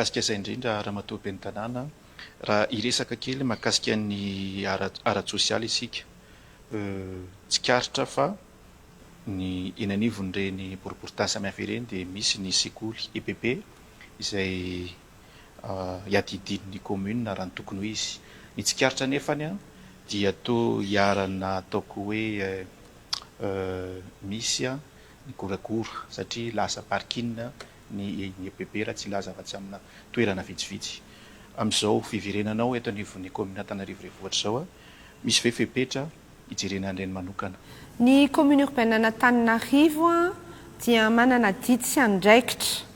mikasika izay indrindra Ramatoa Ben'ny Tanàna raha hiresaka kely mahakasika ny ara-tsosialy isika. Tsikaritra fa ny eny anivon'ireny boriboritany samihafa ireny dia misy ny sekoly EPP izay iadidian'ny kaominina raha ny tokony ho izy. Ny tsikaritra anefa dia toa iharana ataoko hoe misy ny goragora satria lasa parking ny INEPB raha tsy hilaza afa-tsy amina toerana vitsivitsy. Amin'izao fiverenana ao eto anivon'ny kaominina Antananarivo Renivohitra izao, misy ve fepetra hijerena an'ireny manokana? Ny kaominina urbaine an'Antananarivo dia manana didy sy andraikitra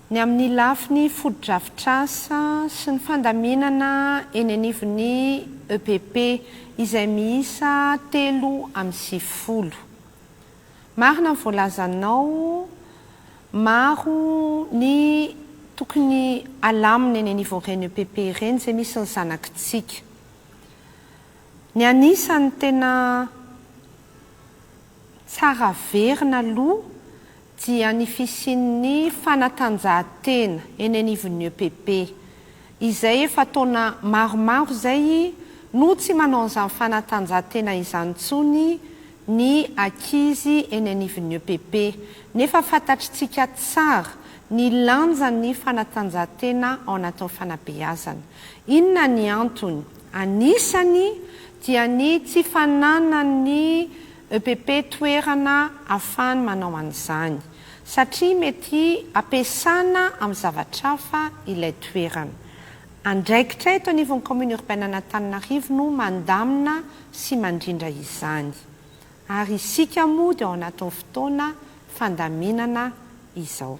ny amin'ny lafiny fotodrafitrasa sy ny fandaminana eny anivon'ny EPP izay miisa telo amby sivifolo. Marina ny voalazanao, maro ny tokony alamina eny niveau ireny EPP ireny izay misy ny zanakitsika. Ny anisany tena tsara averina aloha dia ny fisian'ny fanatanjahantena eny anivon'ny EPP, izay efa taona maromaro izay no tsy manao an'izany fanatanjahantena izany intsony ny ankizy eny anivon'ny EPP, nefa fantatritsika tsara ny lanjan'ny fanatanjahantena ao anatin'ny fanabeazana. Inona ny antony? Anisany dia ny tsy fananan'ny EPP toerana ahafahany manao an'izany, satria mety ampiasana amin'ny zavatra hafa ilay toerana. Andraikitra eto anivon'ny Kaominina Urbainen'Antananarivo no mandamina sy mandrindra izany. Ary isika moa dia ao anatin'ny fotoana fandaminana izao.